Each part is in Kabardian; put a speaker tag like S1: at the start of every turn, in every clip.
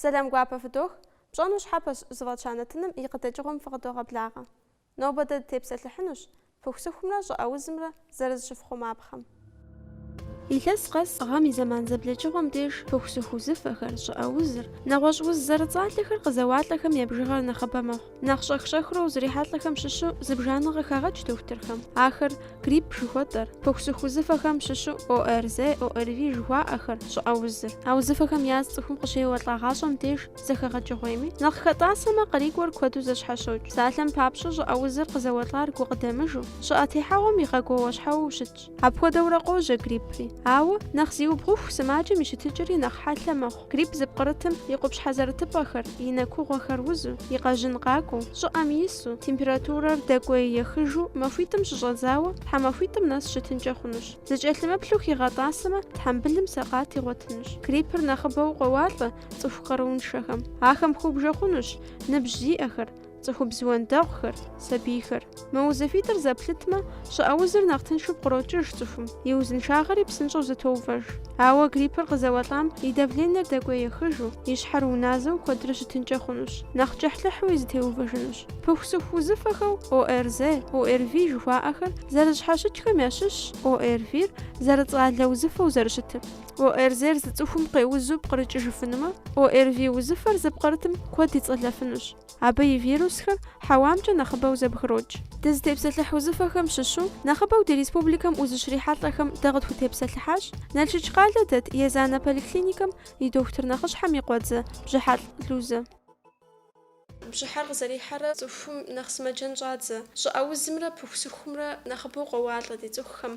S1: Сэлам гуапэ фыдох, пщӏэну щхьэпэщ зыфӏэтща нэтыным и къыдэкӏыгъуэм фыкъыдогъэблагъэ. Нобэ дэ дытепсэлъыхьынущ пыхусыхумрэ щӏыӏэузымрэ зэрызыщыфхъумапхъэм. Илъэс къэс гъэм и зэман зэблэкӏыгъуэм деж пыхусыху узыфэхэр, щӏыӏэузыр, нэгъуэщӏ уз зэрыцӏалэхэр къызэуалӏэхэм я бжыгъэр нэхъыбэ мэхъу. Нэхъ щӏэх-щӏэхыурэ узрихьэлӏэхэм щыщу зыбжанэ къыхагъэкӏ дохутырхэм. Ахэр грипп жыхуэтӏэр, пыхусыху узыфэхэм щыщу ОРЗ, ОРВИ жыхуаӏэхэр, щӏыӏэ узыр. А узыфэхэм яз цӏыхум къыщеуэлӏагъащӏэм деж зэхэгъэкӏыгъуейми, нэхъ хэтӏасэмэ, къарикӏуэр куэду зэщхьэщокӏ. Псалъэм папщӏэ, щӏыӏэ узыр къызэуэлӏар гукъыдэмыжу, щӏыӏэ техьэгъуэм игъэгуауэщхьэуэу щытщ. Апхуэдэурэ къожьэ гриппри. Ауэ, нэхъ зиубгъуху сымаджэм и щытыкӏэри нэхъ хьэлъэ мэхъу. Грипп зыпкърытым и къупщхьэ зэрытыпӏэхэр, и нэкугъуэхэр узу, и къэжьын къакӏуэу, щӏыӏэм ису, температурэр дэкӏуей ехыжу, махуитӏым щыщӏэдзауэ, тхьэмахуитӏым нэс щытынкӏэ хъунущ. Зыкӏэлъымыплъу хигъэтӏасэмэ, тхьэмбылым сэкъат игъуэтынущ. Гриппыр нэхъыбэу къоуалӏэ цӏыху къарууншэхэм. Ахэм хубжэ хъунущ ныбжь зиӏэхэр, Цӏыхубз уэндэгъухэр, сабийхэр. Мы узыфитӏыр зэплъытмэ, щӏыӏэ узыр нэхъ тыншу пкърокӏыж цӏыхум, и узыншагъэри псынщӏэу зэтоувэж. Ауэ гриппыр къызэуэлӏам и давленэр дэкӏуей ехыжу, и щхьэр уназэу куэдрэ щытынкӏэ хъунущ, нэхъ кӏыхьлӏыхьуи зэтеувэжынущ. Пыхусыху узыфэхэу ОРЗ, ОРВИ жыхуаӏэхэр зэрыщхьэщыкӏхэм ящыщщ ОРВИ-р зэрыцӏалэ узыфэу зэрыщытыр. ОРЗ-р зы цӏыхум къеузу пкърыкӏыжыфынумэ, ОРВИ узыфэр зыпкърытым куэд ицӏэлэфынущ. Абы и вирусхэр хьэуамкӏэ нэхъыбэу зэбгрокӏ. Дызытепсэлъыхь узыфэхэм щыщу нэхъыбэу ди республикэм узыщрихьэлӏэхэм дэ къытхутепсэлъыхьащ Налшык къалэ дэт Езанэ поликлиникэм и дохутыр нэхъыщхьэм и къуэдзэ Бжьыхьэлӏ Лузэ. Бжьыхьэр къызэрихьэрэ цӏыхум нэхъ сымаджэн щӏадзэ. Щӏыӏэ узымрэ пыхусыхумрэ нэхъыбэу къоуалӏэ ди цӏыхухэм.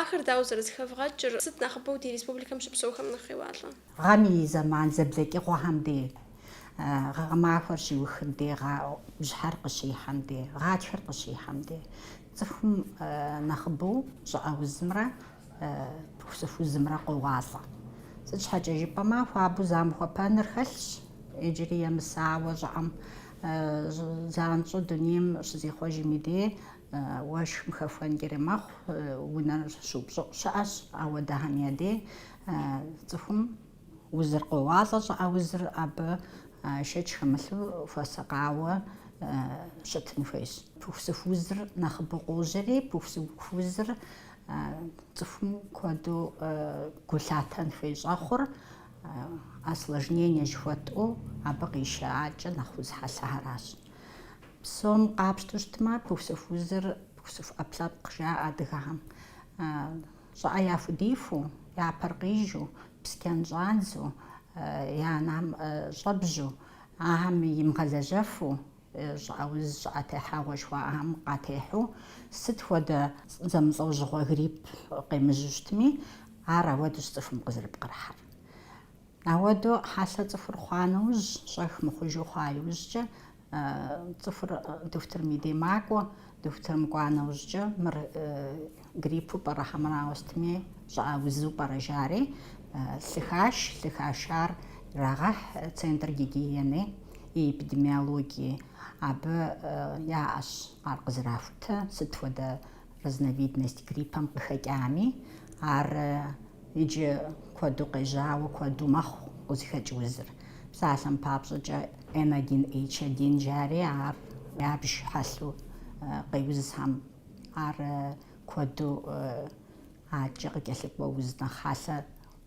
S1: Ахэр дауэ зэрызэхэвгъэкӏыр, сыт нэхъыбэу ди республикэм щыпсэухэм нэхъ къеуалӏэ? Гъэм и
S2: зэман зэблэкӏыгъуэхэм де, гъэмахуэр щиухым де, бжьыхьэр къыщихьэм де, гъатхэр къыщихьэм де, цӏыхум нэхъыбэу щӏыӏэ узымрэ пыхусыху узымрэ къоуалӏэ. Сыт щхьэкӏэ жыпӏэмэ, хуабэу замыхуэпэныр хэлъщ, иджыри емысауэ щӏыӏэм занщӏэу дунейм щызихъуэжми де, уэшхым хэхуэнкӏэри мэхъу, унэр щыупщӏыӏу щыӏэщ ауэдэхэм я де. Цӏыхум узыр къоуалӏэ, щӏыӏэ узыр абы шэч хэмылъу хуэсакъауэ щытын хуейщ. Пыхусыху узыр нэхъыбэу къожьэри, пыхусыху узыр цӏыхум куэду гу лъатэн хуей щӏэхъур осложнение жыхуэтӏу абы къищаӏакӏэ нэхъ уз хьэлъэхэращ. Псом къапщтэу щытмэ, пыхусыху узыр пыхусыху ӏэпкълъэпкъ жаӏэ адыгэхэм. Щӏыӏэ яхудифу, я пэр къижу, псчэн щӏадзу, я нэм щӏэбжьу, ахэм имыгъэлэжьэфу, щӏыӏэ уз, щӏыӏэ техьэгъуэ жыхуаӏэхэм къатехьэу, сыт хуэдэ зэмылӏэужьыгъуэ грипп къемыжьу щытми, ар ауэдущ цӏыхум къызэрыпкърыхьыр. Ауэдэу хьэлъэ цӏыхур хъуа нэужь, щӏэх мыхъужу хъуа иужькӏэ, цӏыхур дохутырым и дей макӏуэ, дохутырым кӏуа нэужькӏэ, мыр гриппу пӏэрэ хьэмэрауэ сытми, щӏыӏэ узу пӏэрэ жари, лъы хаш, лъы хашар ирагъэхь центр гигиены и эпидемиологии. Абы яӏэщ ар къызэрахутэ, сыт хуэдэ Разновидность гриппэм къыхэкӏами, ар иджы куэду къежьауэ куэду мэхъу къызыхэкӏ узыр. Псалъэм папщӏэкӏэ, N1H1 жари ар ябж хьэлъу къеузхэм. Ар куэду аткӏэ къыкӏэлъыкӏуэ уз нэхъ хьэлъэ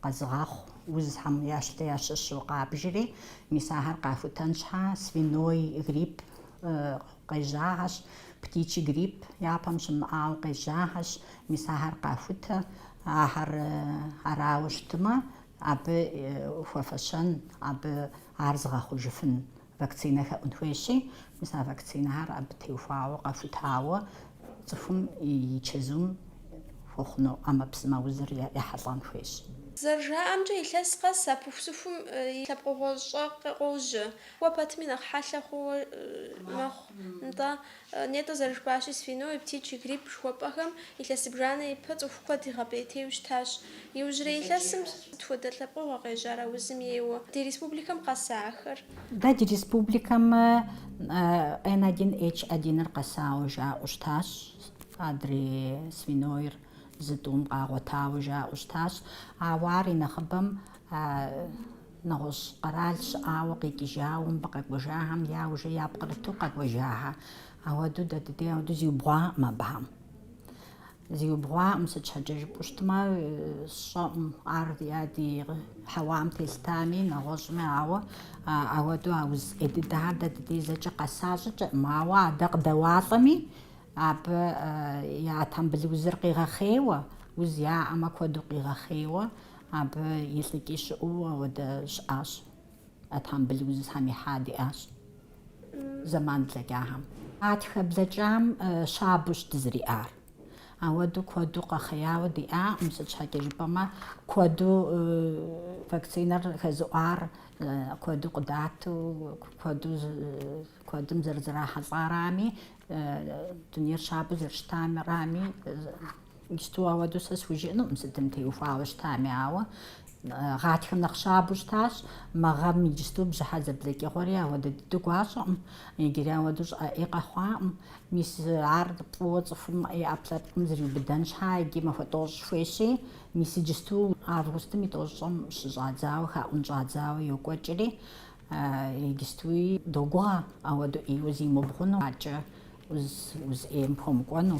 S2: Къэзыгъэхъу узхэм ящлэ ящыщу къабжри, мис ахэр къахутэн щхьэ свиной грипп къежьахэщ, птичий грипп япэм щымыӏауэ къежьахэщ, мис ахэр къахутэ. Ахэр арауэ щытмэ, абы хуэфэщэн, абы ар зыгъэхъужыфын Вакцинэ хэӏун хуейщи, мис а вакцинэхэр абы теухуауэ, къахутауэ цӏыхум и чэзум хуэхъуну ӏэмэпсымэ узыр ехьэлӏэн хуейщ.
S1: Зэрыжаӏэмкӏэ, илъэс къэс а пыхусыхум и лъэпкъыгъуэщӏэ къе- къожьэ. Кӏуэ пэтми нэхъ хьэлъэ хъууэ мэхъу, нтӏэ, Нетӏэ зэрыжыпӏащи, свиной, птичий грипп жыхуэпӏэхэм илъэс зыбжанэ ипэ цӏыху куэд игъэпӏейтейуэ щытащ. Иужьрей илъэсым сыт хуэдэ лъэпкъыгъуэ къежьар а узым ейуэ? Ди республикэм къэса ахэр? Дэ ди
S2: республикэм Н один Н одиныр къэсауэ жаӏэу щытащ, адрей свинойр зы тӏум къагъуэтауэ жаӏэу щытащ, ауэ ар и нэхъыбэм Нэгъуэщӏ къэрал щыӏауэ къикӏыжауэ мыбы къэкӏуэжахэм я ужэ япкърыту къэкӏуэжахэ. Ауэдэу дэ дыдей ауэдэу зиубгъуакъым абыхэм. Зиубгъуакъым, сыт щхьэкӏэ жыпӏэу щытмэ, сщӏэкъым ар ди хьэуам телъытами, нэгъуэщӏми, ауэ ауэдэу а уз ӏей дыдэхэр дэ дыдей зэкӏэ къэса щӏыкӏэкъым. Ауэ адэ къыдэуалӏэми, абы я тхьэмбыл узыр къигъэхъейуэ, уз яӏэмэ куэду къигъэхъейуэ, Абы илӏыкӏи щыӏэу ауэдэ щыӏащ. Тхьэмбыл узхэм ихьа диӏащ зэман блэкӏахэм. Гъатхэ блэкӏам щабэущ дызэриӏар. Ауэдэу куэду къэхъеяуэ диӏакъым, сыт щхьэкӏэ жыпӏэмэ, куэду вакцинэр хэзыӏуар куэду къыдату, куэду куэдым зэрызэрахьэлӏарами, дунейр щабэу зэрыщытарами, Иджыпсту ауэдэу сэ схужыӏэнукъым сытым теухуауэ щытами, ауэ гъатхэм нэхъ щабэу щытащ. Мы гъэм иджыпсту бжьыхьэ зэблэкӏыгъуэри ауэдэ дыдэу гуащӏэкъым, иджыри ауэдэу щӏыӏэ ӏей къэхъуакъым. Мис ар фӏыуэ цӏыхум и ӏэпкълъэпкъым зриубыдэн щхьа иджы махуэ тӏощӏ хуейщи, мис иджыпсту августым и тӏощӏым щыщӏадзауэ, хаӏун щӏадзауэ йокӏуэкӏри, иджыпстуи догугъэ ауэдэу ӏейуэ зимыбгъуну. Аркӏэ уз ӏейм
S1: пхуэмыкӏуэну.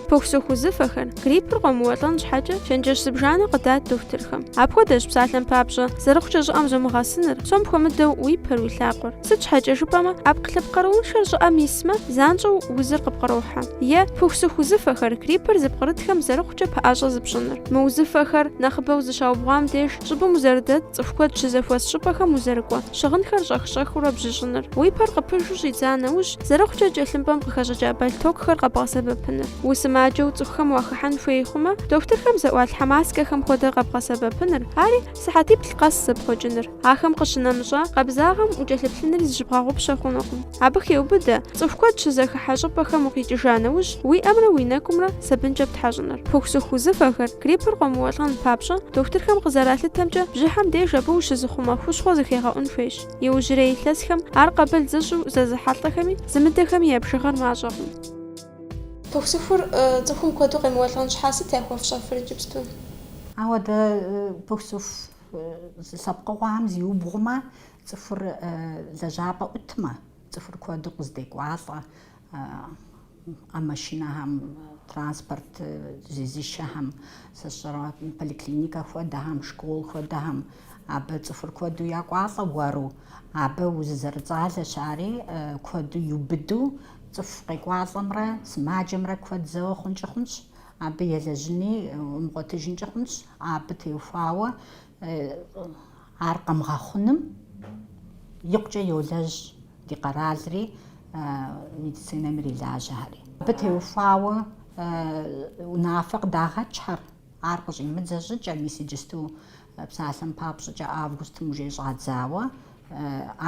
S1: Пыхусыху узыфэхэр, гриппыр къомыуэлӏэн щхьэкӏэ, чэнджэщ зыбжанэ къыдат дохутырхэм. Апхуэдэщ, псалъэм папщӏэ, зэрыхъукӏэ щӏыӏэм зумыгъэсыныр, псом хуэмыдэу уи пэр, уи лъакъуэр. Сыт щхьэкӏэ жыпӏэмэ, ӏэпкълъэпкъ къарууншэр щӏыӏэм исмэ, занщӏэу узыр къыпкърохьэ. Е, пыхусыху узыфэхэр, гриппыр зыпкърытхэм зэрыхъукӏэ пэӏэщӏэ зыпщӏыныр. Мы узыфэхэр, нэхъыбэу зыщаубгъуам деж, Щӏыбым узэрыдэт, цӏыху куэд щызэхуэс щӏыпӏэхэм узэрыкӏуэ, щыгъынхэр щӏэх-щӏэхыурэ бжьыщӏыныр, уи пэр къыпыжу щӏидза нэужь, зэрыхъукӏэ кӏэлъымпӏэм къыхэщӏыкӏа бэлътокухэр къэбгъэсэбэпыныр. Усымаджэу цӏыхухэм уахыхьэн хуей хъумэ, дохутырхэм зэӏуалъхьэ маскэхэм хуэдэ къэбгъэсэбэпыныр, ари сыхьэтиплӏ къэс зэпхъуэкӏыныр. Ахэм къыщынэмыщӏа, къабзагъэм укӏэлъыплъынри зыщыбгъэгъупщэ хъунукъым. Абы хеубыдэ, цӏыху куэд щызэхыхьэ щӏыпӏэхэм укъикӏыжа нэужь, уи ӏэмрэ уи нэкӏумрэ, сабынкӏэ птхьэщӏыныр. Пыхусыху узыфэхэр, гриппыр къомыуэлӏэн папщӏэ, дохутырхэм къызэралъытэмкӏэ, бжьыхьэм деж абы ущызыхъумэ хущхъуэ зыхегъэӏун хуейщ. Иужьрей илъэсхэм ар къабыл зыщӏу зэзыхьэлӏэхэми, зымыдэхэми я бжыгъэр мащӏэкъым. Пыхусыхур цӏыхум куэду къемыуэлӏэн щхьа сыт яхуэфщӏэфыр иджыпсту? Ауэдэ
S2: пыхусыху уз лъэпкъыгъуэхэм зиубгъумэ, цӏыхур лэжьапӏэ ӏутмэ. Цӏыхур куэду къыздекӏуалӏэ а машинэхэм, транспорт зезышэхэм, сыщӏэрэ поликлиникэ хуэдэхэм, школ хуэдэхэм. Абы цӏыхур куэду якӏуалӏэ уэру. Абы уз зэрыцӏалэщ ари, куэду иубыду. Цӏыху къекӏуалӏэмрэ сымаджэмрэ куэд зэуэ хъункӏи хъунщ, абы елэжьыни умыгъуэтыжынкӏи хъунщ. Абы теухуауэ Ар къэмыгъэхъуным икъукӏэ йолэжь ди къэралри, медицинэм ирилажьэхэри. Абы теухуауэ унафэ къыдагъэкӏхэр, ар къыщӏимыдзэ щӏыкӏэ, мис иджысту псалъэм папщӏыкӏэ августым ужей щӏадзауэ,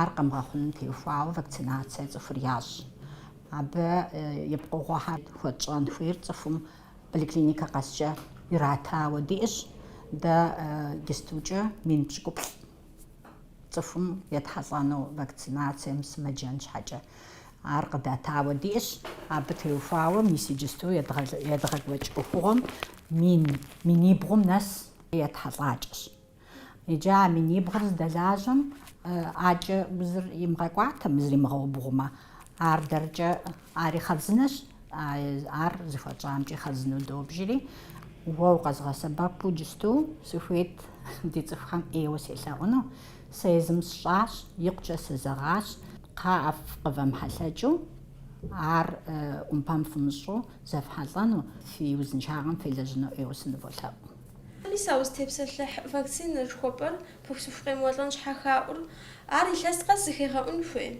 S2: ар къэмыгъэхъуным теухуауэ вакцинацие цӏыхур ящӏ. Абы и пкъыгъуэхэр хуэтщӏэн хуейр цӏыхум Поликлиникэ къэскӏэ иратауэ диӏэщ дэ джыстукӏэ мин пщыкӏуплӏ цӏыхум етхьэлӏэну вакцинацие мысымэджэн щхьэкӏэ. Ар къыдатауэ диӏэщ, абы теухуауэ мис иджысту едгъэкӏуэкӏ ӏуэхугъуэм минибгъум нэс етхьэлӏакӏэщ. Иджы а минибгъур здэлажьэм акӏэ узыр имыгъэкӏуатэмэ зримыгъэубгъумэ. Ар дэркӏэ ари хъарзынэщ, ар зыхуэтщӏамкӏи хъарзыну добжри, уэ укъэзгъэсэбэпу иджысту сыхуейт ди цӏыхухэм ӏейуэ селъэӏуну. Сэ езым сщӏащ, икъукӏэ сызэгъащ. Кхъыӏэ, фыкъывэмыхьэлъэкӏыу, ар ӏумпэм фымыщӏу зэфхьэлӏэну, фи узыншагъэм фелэжьыну ӏейуэ сыныволъэӏу. Мис
S1: а узытепсэлъыхь вакцинэ жыхуэпӏэр пыхусыху къемыуэлӏэн щхьэ хаӏур, ар илъэс къэс зыхегъэӏун хуей?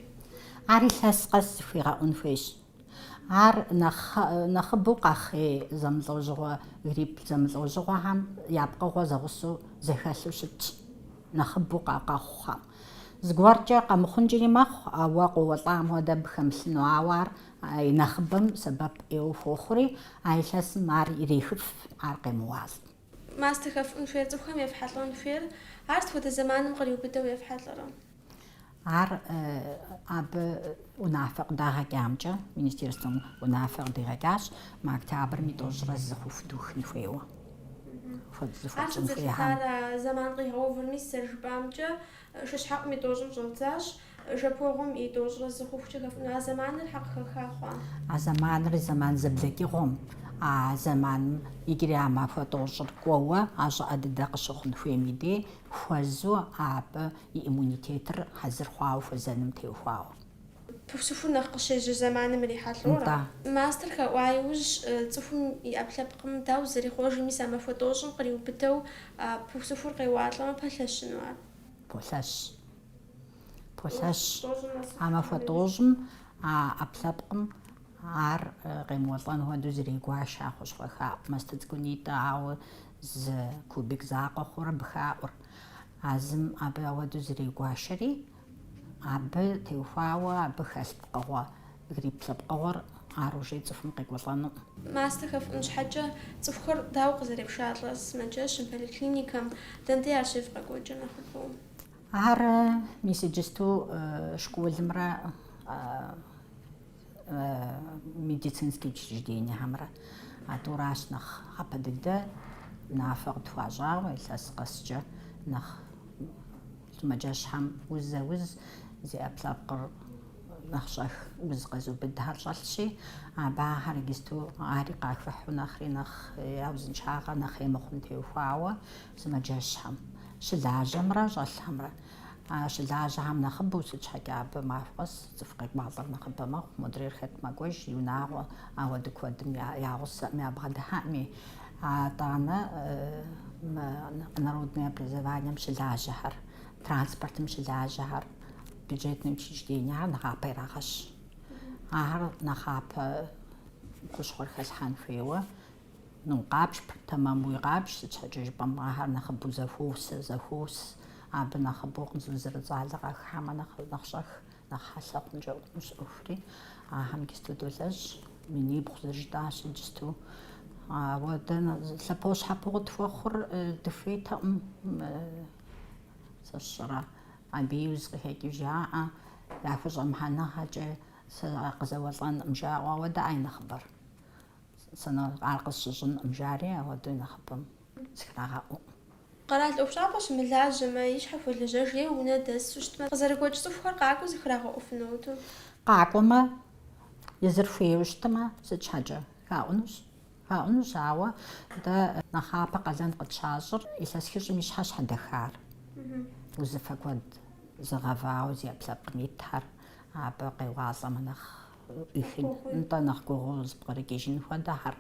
S1: Ар илъэс
S2: къэс зыхуигъэӏун хуейщ. Ар нэхъыбэу къэхъей зэмылӏэужьыгъуэ, грипп зэмылӏэужьыгъуэхэм я пкъыгъуэ зэгъусэу зэхэлъу щытщ, нэхъыбэу къэхъухэм. Зыгуэркӏэ къэмыхъункӏэри мэхъу, ауэ къоуэлӏам хуэдэ абы хэмылъыну, ауэ ар А и нэхъыбэм сэбэп ӏейуэ хуохъури, а илъэсым ар ирехыф, ар къемыуалӏ. Мастэ
S1: хэфӏун хуейр цӏыхухэм ефхьэлӏэн хуейр, ар сыт хуэдэ зэманым къриубыдэу ефхьэлӏэрэ? Ар
S2: абы унафэ къыдагъэкӏамкӏэ, министерствэм унафэ къыдигъэкӏащ, мы октябрым и тӏощӏрэ зы хъуху духын хуейуэ. Хуэдэ зыхуэтщӏын хуейхьэм. Ар сыт зыхуэхьар а зэман
S1: къигъэувыр, мис зэрыжыпӏамкӏэ, шыщхьэӏум и тӏощӏым щӏэддзащ. Жэпуэгъуэм и тӏощӏрэ зы хъухукӏэ хэфӏуну а зэманыр щхьэ къыхэха хъуа? А зэманыр
S2: зэман зэблэкӏыгъуэм, а зэманым иджыри а махуэ тӏощӏыр кӏуэуэ а щӏыӏэ дыдэ къыщыхъун хуейм и дей хуэзу абы и иммунитетыр хьэзыр хъуауэ хуэзэным теухуауэ.
S1: Пыхусыхур нэхъ къыщежьэ зэманым ирихьэлӏэурэ? Нтӏэ. Мастэр хэӏуа иужь, цӏыхум и ӏэпкълъэпкъым дауэ зэрихъуэж мис а махуэ тӏощӏым къриубыдэу пыхусыхур къеуалӏэмэ пэлъэщыну ар? Полъэщ.
S2: Полъэщ. А махуэ тӏощӏым а ӏэпкълъэпкъым ар къемыуэлӏэн хуэдэу зрегуаш а хущхъуэ хаӏу мастэ цӏыкӏунитӏэ, ауэ зы кубик закъуэ хъурэ абы хаӏур. А зым абы ауэдэу зрегуашэри, абы теухуауэ абы хэлъ пкъыгъуэ, грипп лъэпкъыгъуэр ар уже цӏыхум къекӏуэлӏэнукъым. Мастэ хэфӏун
S1: щхьэкӏэ цӏыхухэр дауэ къызэрепшалӏэ сымаджэщым, поликлиникэм, дэндей ар щефӏ къэкӏуэкӏэ нэхъыбэу.
S2: Ар мис иджысту школымрэ медицинские учреждениехэмрэ а тӏуращ нэхъапэ дыдэ унафэ къытхуащӏауэ илъэс къэскӏэ нэхъ сымаджэщхьэм узэ уз зи ӏэпкълъэпкъыр нэхъ щӏэх уз къэзубыдхэр щӏэлъщи абы ахэр иджысту ари къахыхьу нэхъри нэхъ я узыншагъэ нэхъ ӏей мыхъум теухуауэ Сымаджэщхэм, щылажьэмрэ щӏэлъхэмрэ. А щылажьэхэм нэхъыбэу сыт щхьэкӏэ абы махуэ къэс цӏыху къекӏуалӏэр нэхъыбэ мэхъу, модрейр хэт мэкӏуэж и унагъуэ, ауэдэ куэдым я гъусэӏым ябгъэдыхьэӏыми. Атӏанэ народное образованием щылажьэхэр, транспортым щылажьэхэр, бюджетнэ учреждениехэр нэхъапэ ирагъэщ. Ахэр нэхъапэ хущхъуэр хэлъхьэн хуейуэ Ну, къабж, тэмэмуи къабж, сыт щхьэкӏэ жыпӏэмэ ахэр нэхъыбэу зэхуос, зэхуос, абы нэхъыбэу къызэрыцӏалэ къахыхьэмэ нэхъ, нэхъ щӏэх, нэхъ хьэлъэ хъункӏэ хъунущ ӏуэхури, ахэм иджысту долэжь, минибгъу зэрыжытӏащи иджысту. Ауэдэ лъэпощхьэпоуэ къытхуэхъур дыхуейтэкъым, сэ сщӏэрэ, абы уз къыхэкӏыу жаӏэ, яхущӏэмыхьэныгъэкӏэ сэ къызэуэлӏэнкъым жаӏэу, ауэдэ ай нэхъыбэр? Сэ, ну, ар къысщыщӏынкъым, жари ауэдэу нэхъыбэм зыхрагъэӏукъым. Къэрал
S1: ӏуэхущӏапӏэ щымылажьэмэ, и щхьэ хуэлэжьэж е унэ дэсу щытмэ, къызэрыгуэкӏ цӏыхухэр къакӏуэу зыхрагъэӏуфынут. Къакӏуэмэ,
S2: езыр хуейуэ щытмэ, сыт щхьэкӏэ? Хаӏунущ. Хаӏунущ, ауэ дэ нэхъапэ къалэн къытщащӏыр илъэс хыщӏым и щхьэ щхьэдэхар. Узыфэ куэд зыгъэвауэ зи ӏэпкълъэпкъым итхэр абы къеуалӏэмэ нэхъ ӏуихын, нтӏэ нэхъ гугъуу зыпкърыкӏыжын хуэдэхэр,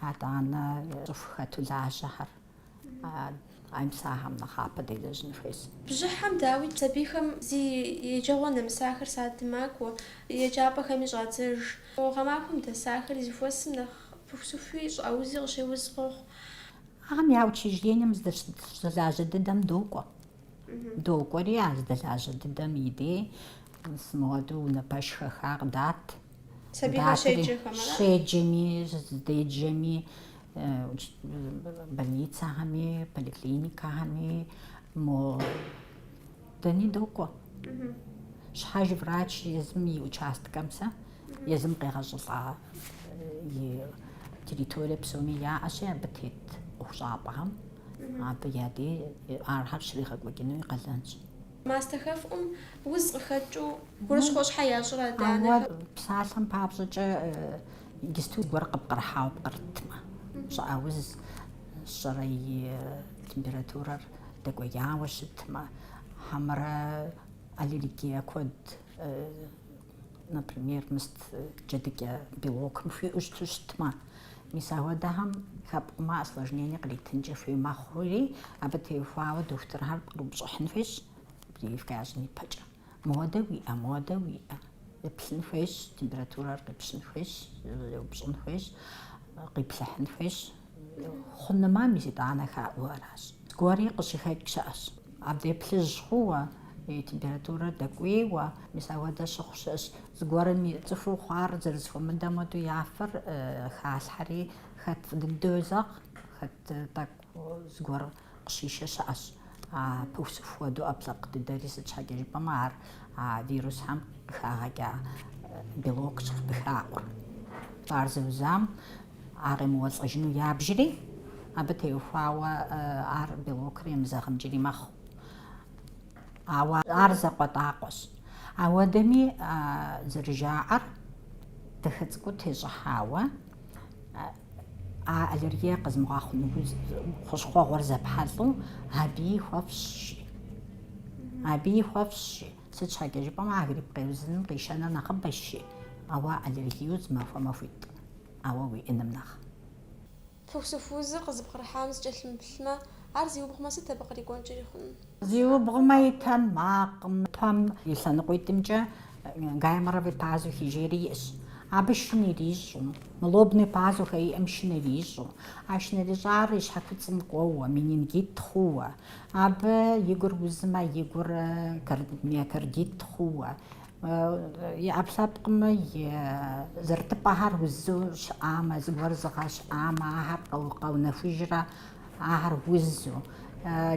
S2: атӏанэ цӏыху хэту лажьэхэр ай, мис ахэм нэхъапэ делэжьын хуейс. Бжьыхьэм дауи
S1: сабийхэм зи еджэгъуэ нэмысахэр садым макӏуэ, еджапӏэхэми щӏадзэж. Гъэмахуэм дэсахэри зэхуэсым нэхъ пыхусыхуи щӏыӏэ узи къыщеуз къохъу. Ахэм я
S2: учреждением здэлажьэ дыдэм докӏуэ. Докӏуэри а зыдэлажьэ дыдэм и дей мис моуэдэу унэ пэш хэха къыдат. Сабийхэр
S1: щеджэхэм ара? Щеджэми,
S2: зыдеджэми, больницэхэми, поликлиникэхэми мо дэни докӏуэ. Щхьэж врач езым и участкэм сэ Езым къегъэщӏылӏа и территорие псоми яӏэщи, абы тет ӏуэхущӏапӏэхэм абы я дей ахэр щригъэкӏуэкӏыну и къалэнщ. Мастэ хэфӏум
S1: уз къыхэкӏыу гурыщхъуэ щхьэ ящӏрэ адэ-анэхэм? Ауэ псалъэм
S2: папщӏэкӏэ иджысту гуэр къыпкърыхьауэ пкърытмэ, щӏыӏэ уз щӏэрэ и температурэр дэкӏуеяуэ щытмэ, хьэмэрэ аллергие куэд например, мыст джэдыкӏэ белокым хуиӏэу щыту щытмэ, мис ахуэдэхэм хэпкъумэ осложнение къритынкӏэ хуей мэхъури, абы теухуауэ дохутырхэр пкърыупщӏыхьын хуейщ прививкэ ящӏын ипэкӏэ. Моуэдэ уиӏэ, моуэдэ уиӏэ. Еплъын хуейщ, температурэр къипщын хуейщ, еупщӏын хуейщ, къиплъыхьын хуейщ. Хъунымэ, мис итӏанэ хаӏуу аращ. Зыгуэрри къыщыхэкӏ щыӏэщ. Абдей плъыжь хъууэ, и температурэр дэкӏуейуэ, мис ауэдэ щыхъу щыӏэщ. Зыгуэрым и цӏыхуу хъуар зэрызэхуэмыдэм хуэдэу я фэр халъхьэри, хэт фӏы дыдэу йозэгъ, хэт тӏэкӏу зыгуэр Къыщишэ щыӏэщ. А пыхусыху хуэдэу ӏэпкълъэпкъ дыдэри, сыт щхьэкӏэ жыпӏэмэ, ар а вирусхэм къыхагъэкӏа белокщ къыхаӏур. Ар зэузам ар къемыуэлӏэжыну ябжри, абы теухуауэ ар белокыр емызэгъынкӏэри мэхъу. Ауэ ар закъуэтӏакъуэщ. Ауэдэми, зэрыжаӏэр, дахэ цӏыкӏуу тещӏыхьауэ, А аллергия къэзымыгъэхъуну хущхъуэгъуэр зэпхьэлӏэу абыи хуэфащэщи. Абыи хуэфащэщи. Сыт щхьэкӏэ жыпӏэмэ, а грипп къеузыным къишэныр нэхъыбэщи, ауэ аллергию зымахуэ махуитӏ, ауэ уиӏэным
S1: нэхъ. Пыхусыху узыр къызыпкърыхьам зыкӏэлъымыплъмэ, ар зиубгъумэ, сыт абы кърикӏуэнкӏэри хъунур? Зиубгъумэ
S2: и тэмакъым. Пэм и лъэныкъуитӏымкӏэ гайморовый пазухи жери иӏэщ. Абы шын ирищӏу. Мы лобный пазухи иӏэм шын ирищӏу. А шын ирищӏар и щхьэкуцӏым кӏуэуэ, менингит хъууэ. Абы и гур узмэ, и гур миокардит хъууэ. И ӏэпкълъэпкъым и зэрытыпӏэхэр узу щыӏамэ, зыгуэр зыгъэщӏамэ, ахэр къэунэхужрэ. Ахэр узу,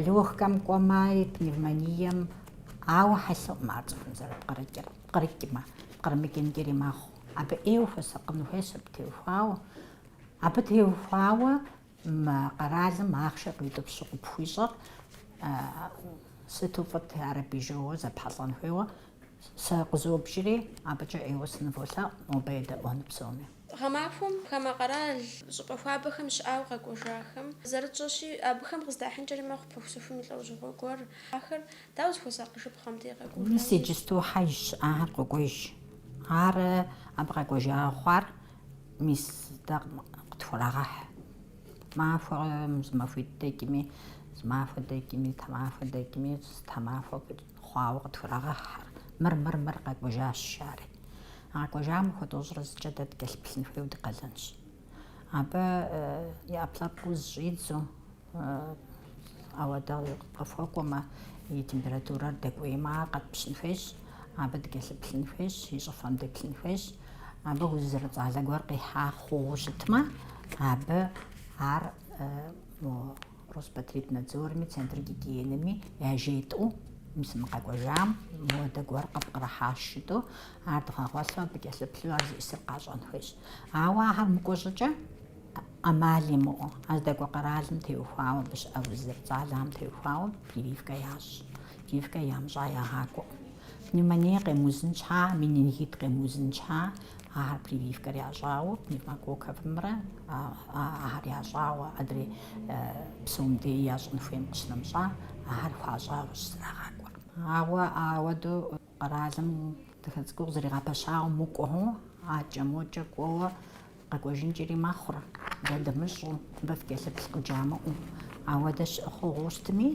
S2: легкэм кӏуэмаи, пневмонием, ауэ хьэлъэӏум ар цӏыхум зэрыпкърыкӏыр, пкърыкӏмэ, пкърымыкӏынкӏэри мэхъу. Абы ӏейуэ хуэсакъын хуейщ абы теухуауэ. Абы теухуауэ мы къэралым ахъшэ къиутӏыпщу къыпхуищӏэр сыту фӏыт, ар абы и жэуэ зэпхьэлӏэн хуейуэ. Сэ къызобжри, абыкӏэ ӏейуэ сыныволъэӏу, нобэ едэӏуэну псоми. Гъэмахуэм
S1: хамэ къэрал щӏыпӏэ хуабэхэм щыӏауэ къэкӏуэжахэм зэрытщӏэщи, абыхэм къыздахьынкӏэри мэхъу пыхусыхум и лӏэужьыгъуэ гуэр. Ахэр дауэ зыхуэсакъыжыпхъэ мыдэ къэкӏуэжам? Мис иджысту хьэж
S2: щыӏахэр къокӏуэж. Ар абы къэкӏуэжауэ хъуар мис дэ къытхурагъэхь. Махуэм зы махуитӏ дэкӏми, зы махуэ дэкӏми, тэмахуэ дэкӏми, зы тэмахуэ хъуауэ къытхурагъэхьхэр. Мыр, мыр, мыр къэкӏуэжащ жари. Къэкӏуэжам махуэ тӏощӏрэ зыкӏэ дэ дыкӏэлъыплъын хуейуэ ди къалэнщ. Абы и ӏэпкълъэпкъ уз щӏидзэу, ауэдэ къытхуэкӏуэмэ, и температурэр дэкӏуеймэ, ар къэтпщын хуейщ, абы дыкӏэлъыплъын хуейщ, и щӏыфэм деплъын хуейщ. Абы уз зэрыцӏалэ гуэр къихьа хъууэ щытмэ, абы ар Роспотребнадзорми, Центр гигиенэми яжетӏэу мис мы къэкӏуэжам моуэдэ гуэр къыпкърыхьащ жытӏэу, ар дгъэгъуэлъу абы кӏэлъыплъу ар зиӏысыр къащӏэн хуейщ. Ауэ ахэр мыкӏуэ щӏыкӏэ ӏэмал имыӏэу, а здэкӏуэ къэралым теухуауэ абы щыӏэ уз зэрыцӏалэхэм теухуауэ прививкэ ящӏ. Прививкэ ямыщӏа ягъакӏуэкъым. Пневмоние къемыузын щхьа, менингит къемыузын щхьа, Ахэр прививкэр ящӏауэ пневмококковымрэ ахэр ящӏауэ адрей псом дей ящӏын хуейм къыщынэмыщӏа, ахэр хуащӏауэщ зэрагъакӏуэр. Ауэ ауэдэу къэралым дахэ цӏыкӏуу къызэригъэпэщауэ мыкӏуэу, акӏэ-мокӏэ кӏуэуэ къэкӏуэжынкӏэри мэхъур, дэ дымыщӏэу, мыбы фыкӏэлъыплъ къыджамыӏэу. Ауэдэ щыӏэ хъугъуэу щытми,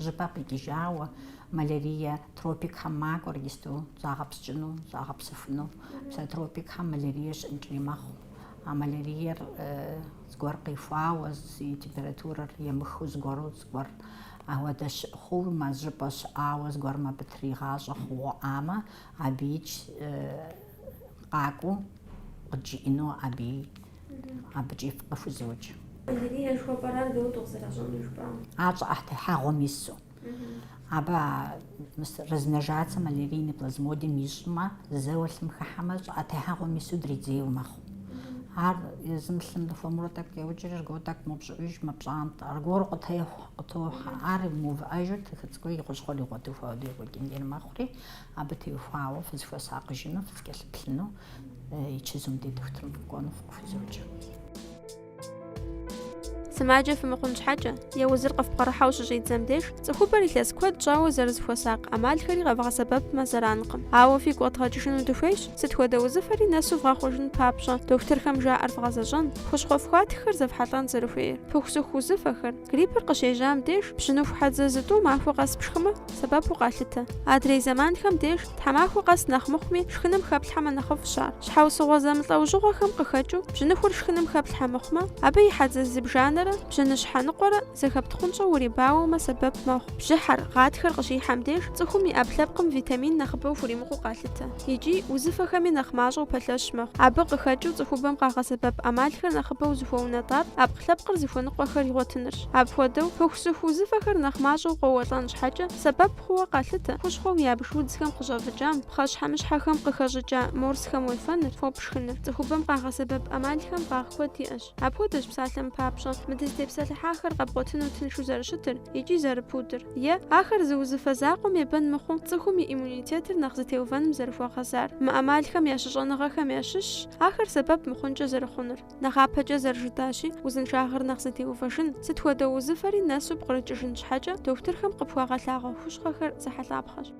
S2: жьыпӏэ къикӏыжауэ. Малярие тропикхэм макӏуэр иджыпсту загъэпскӏыну, загъэпсэхуну. Псэ тропикхэм малярие щыӏэнкӏэри мэхъу. А маляриер зыгуэр къихуауэ, и температурэр емыхыу зыгуэру зыгуэр ауэдэ щыӏэ хъууэ, мэз жьыпӏэ щыӏауэ зыгуэрым абы тригъащӏэ хъугъуэӏамэ, абыич къакӏуэу къыджиӏэну абы абыкӏи фыкъыхузоджэ.
S1: Малярие жыхуэпӏэрар дауэ къызэращӏэнур жыпӏам? Ар
S2: щӏыӏэтехьэгъуэм ису. Абы а размножаться малярийный плазмодием ищӏмэ, зэуэ лъым хыхьэмэ, щӏыӏэ техьэгъуэм ису дридзейуэ мэхъу. Ар езым лъым дыхуэмурэ тӏэкӏу къеукӏри, аргуэру тӏэкӏу мэупщӏыӏуж, мэпщӏантӏэ, аргуэру къытехъу, къытохьэ. Ар мыувыӏэжу дахэ цӏыкӏуу и хущхъуэр игъуэтыху ауэдэу екӏуэкӏынкӏэри мэхъури, абы теухуауэ фызыхуэсакъыжыну, фызыкӏэлъыплъыну и чызум ди дохутырым фыкӏуэну фыкъыхузоджэ.
S1: Сымаджэ фымыхъун щхьэкӏэ, е узыр къыфпкърыхьэу щыщӏидзэм деж, цӏыхубэр илъэс куэд щӏауэ зэрызыхуэсакъ ӏэмалхэри къэвгъэсэбэпмэ зэранкъым. Ауэ фигу къэдгъэкӏыжыну дыхуейщ, сыт хуэдэ узыфэри нэсу вгъэхъужын папщӏэ, дохутырхэм жаӏэр вгъэзэщӏэн, хущхъуэ фхуатххэр зэфхьэлӏэн зэрыхуейр, пыхусыху узыфэхэр, Гриппыр къыщежьам деж пщыныху хьэдзэ зытӏу махуэ къэс пшхымэ, сэбэпу къалъытэ. Адрей зэманхэм деж тхьэмахуэ къэс нэхъ мыхъуми шхыным хэплъхьэмэ нэхъыфӏщ ар. Щхьэусыгъуэ зэмылӏэужьыгъуэхэм къыхэкӏыу бжьыныхур шхыным хэплъхьэ мыхъумэ, абы и хьэдзэ зыбжанэрэ бжьыныщхьэ ныкъуэрэ зэхэптхъунщӏэу урибауэмэ сэбэп мэхъу. Бжьыхьэр, гъатхэр къыщихьэм деж цӏыхум и ӏэпкълъэпкъым витамин нэхъыбэу хуримыкъуу къалъытэ. икӏи узыфэхэми нэхъ мащӏэу пэлъэщ мэхъу. Абы къыхэкӏыу цӏыхубэм къагъэсэбэп ӏэмалхэр нэхъыбэу зыхуэунэтӏар ӏэпкълъэпкъыр зыхуэныкъуэхэр игъуэтынырщ. Апхуэдэу, пыхусыху узыфэхэр нэхъ мащӏэу къоуэлӏэн щхьэкӏэ сэбэп хъууэ къалъытэ хущхъуэу ябж удзхэм къыщӏэвыкӏам, пхъэщхьэмыщхьэхэм къыхэщӏыкӏа морсхэм уефэныр, фо пшхыныр. Цӏыхубэм къагъэсэбэп ӏэмалхэм фӏагъ куэд иӏэщ. Апхуэдэщ псалъэм папщӏэ мы дызытепсэлъыхьахэр къэбгъуэтыну тыншу зэрыщытыр икӏи зэрыпудыр, е, ахэр зы узыфэ закъуэм ебэн мыхъуу, цӏыхум и иммунитетыр нэхъ зэтеувэным зэрыхуэгъэзар. Мы ӏэмалхэм я щыщӏэныгъэхэм ящыщщ ахэр сэбэп мыхъункӏэ зэрыхъунур. Нэхъапэкӏэ зэрыжытащи, узыншагъэр нэхъ зэтеувэжын, сыт хуэдэ узыфэри нэсу пкърыкӏыжын щхьэкӏэ, дохутырхэм къыпхуагъэлъагъуэ хущхъуэхэр зехьэлӏапхъэщ.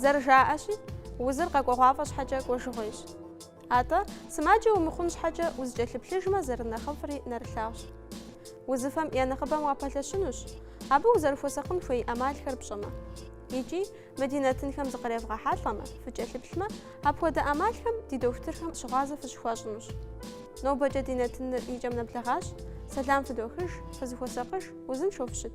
S1: Зэрыжаӏэщи, узыр къэкӏуэгъуафӏэ щхьэкӏэ кӏуэжыгъуейщ. Атӏэ, сымаджэ умыхъун щхьэкӏэ узэкӏэлъыплъыжмэ зэрынэхъыфӏри нэрылъагъущ. Узыфэм я нэхъыбэм уапэлъэщынущ, абы узэрыхуэсакъын хуей ӏэмалхэр пщӏэмэ. Икӏи, Мы ди нэтынхэм зыкъревгъэхьэлӏэмэ, фыкӏэлъыплъмэ, апхуэдэ ӏэмалхэм ди дохутырхэм щыгъуазэ фыщыхуащӏынущ. Нобэкӏэ ди нэтыныр и кӏэм нэблэгъащ. Сэлам фыдохыж, фызыхуэсакъыж, узыншэу фыщыт!